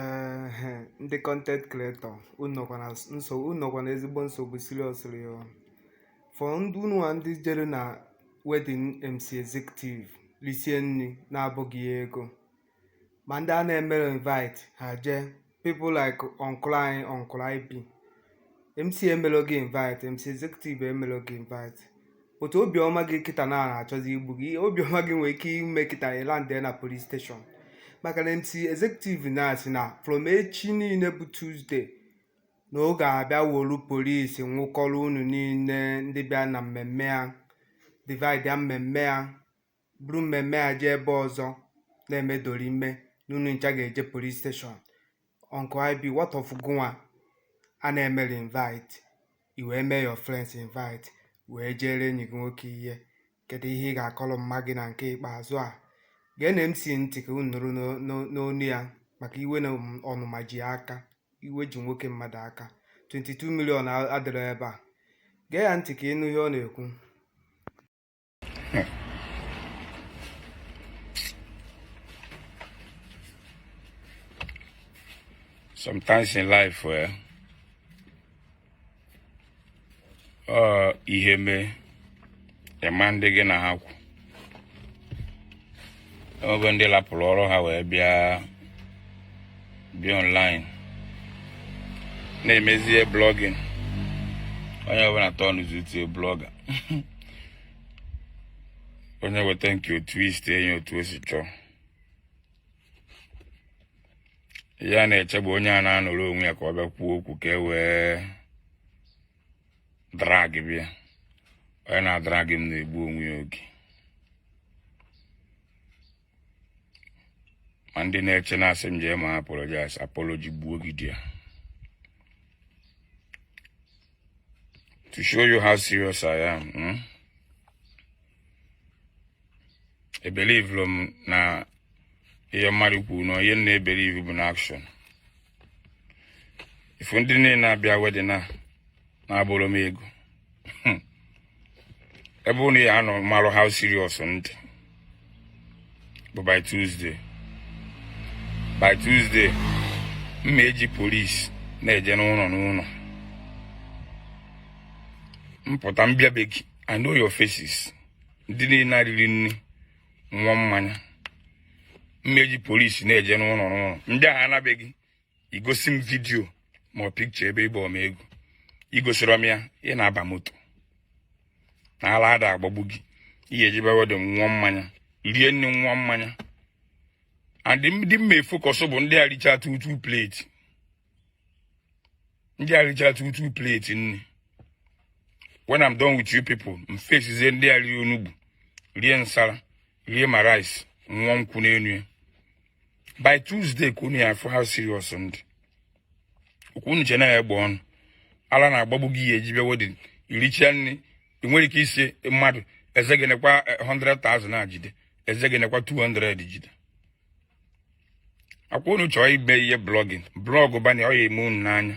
ehe ndị content creator unu nọkwa na nsogbu unu nọkwa na ezigbo nsogbu seriously o for ndị unu nwa ndị jere na wedding mc executive lisie nri na-abụghị ya ego ma ndị a na-emerọ invite ha jee people like uncle anyị uncle ip mc emerọ gị invite mc executive emerọ gị invite but obiọma gị kịta na-achọzi igbu gị obiọma gị nwere ike ime kịta ị landị na police station maka na mc executive na-asị na from echi niile bụ tuesday na ọ ga-abịa wolu police nwụkọrọ unu niile ndị bịa na mmemme ya divide ya mmemme ya buru mmemme a jee ebe ọzọ na-eme dorime na unu ncha ga-eje police station uncle ib what of gụnwa a na-emerọ invite i wee mee your friends invite wee jeere enyi gị nwoke ihe kedu ihe ị ga-akọrọ mma gị na nke ikpeazụ a geenụ mc ntị ka unu nụrụ n'o- n'o- n'ọnụ ya maka iwe na ọm- ọnụma ji ya aka iwe ji nwoke mmadụ aka 22 million a- adịrọ ebe a gee ya ntị ka ị nụ ihe ọ na-ekwu sometimes in life eh, ọ ihe mee ị ma ndị gị na ha kwụ o nwego ndị lapụrụ ọrụ ha wee bịa bịa online na-emezie blogging onye ọbụla turnzi to blogger onye weta nke ọ twistie ya otu o si chọọ ya na-eche bụ onye a na-anọrọ onwe ya ka ọ bịa kwuo okwu ka e wee dragịba ya onye na-adrag m na-egbu onwe ya oge ma ndị na-eche na-asị m jee ma apologize apology gbuo gị there to show you how serious I am hmm? ebelieverọ m na ihe mmadụ kwuru n'ọnụ ihe m na-ebelieve bụ na action ị fụ ndị niile a bịa wedding a na-abụrọ m ego hmm. ebe unu ya-anọ marụ how serious m dị bụ by Tuesday by Tuesday m ma-eji police na-eje n'ụlọ n'ụlọ m pụta m bịa be gị I know your faces ndị niile a riri nri nwụọ mmanya m ya eji polisi na-eje n'ụlọ n'ụlọ ndị a na be gị igosi m vidiyo ma ọ pikcha ebe ị bọọ m ego igosirọ m ya ị na-aba moto na ala ada agbagbu gị ị ya eje bịa wedin nwụọ mmanya rie nni nwụọ mmanya and ndị m ya efokọsụ bụ ndị a richa two two plate ndị a richara two two plate nri when I'm done with you people m fesizie ndị a rie onugbu rie nsala rie ma rice nwụọ nkwụ n'elu ya by Tuesday ka unu ya afụ how serious m dị ọkwa unu che na ya egbe ọnụ ala na-agbagbu gị ị ya eje bịa wedin irichaa nri ị nwerọ ike ịsị mmadụ Ezege nekwa 100,000 eh, a jide Ezege nekwa 200 jide ọkwa unu chọọ ibe ihe blọgin blọgụ banye ọ ya eme unu n'anya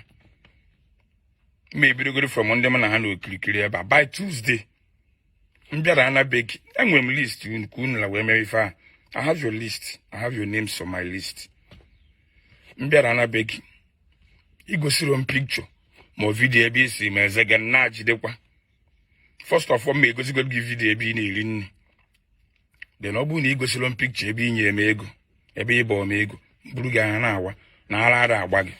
ma ebidogoro from ndị m na ha nọ okirikiri ebe a by Tuesday m bịaru na be gị enwere m list unu ka unu la wee mere ife a I have your list I have your names on my list m bịaru na be gị igosirọ m pikcha ma vidiyo ebe ị sị m Ezege na jidekwa first of all ma egosigo gị vidio ebe ị na-eri nri then ọ bụrụ na ị gosirọ m pikcha ebe ị nyere m ego ebe ị bọọ m ego buru gị anya na-awa na ara ada agba gị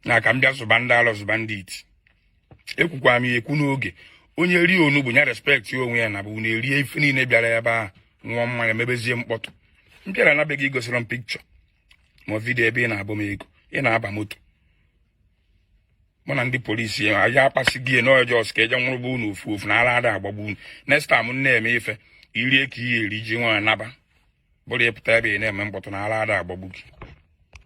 na ka m bịa zụba ndị ala zụba ndị iti ekwukwa m ekwu n'oge onye rie onugbu ya respekt onwe ya na bụ na erie ife niile bịara ebe ahụ nwụọ mmanya mebezie mkpọtụ m bịaru na be gị igosirọ m pikcha ma vidio ebe ị na-abọ m ego ị na-aba moto mụ na ndị polisi ya aja akpasị gị ya n'ọjọ ọsụ ka eje nwụrụba unu ofu ofu na ara ada agbagbu unu next time m na-eme ife irie ka ị ya eri ji nwayọ naba bụrọ ịpụta ebe ị na-eme mkpọtụ na ara ada agbagbu gị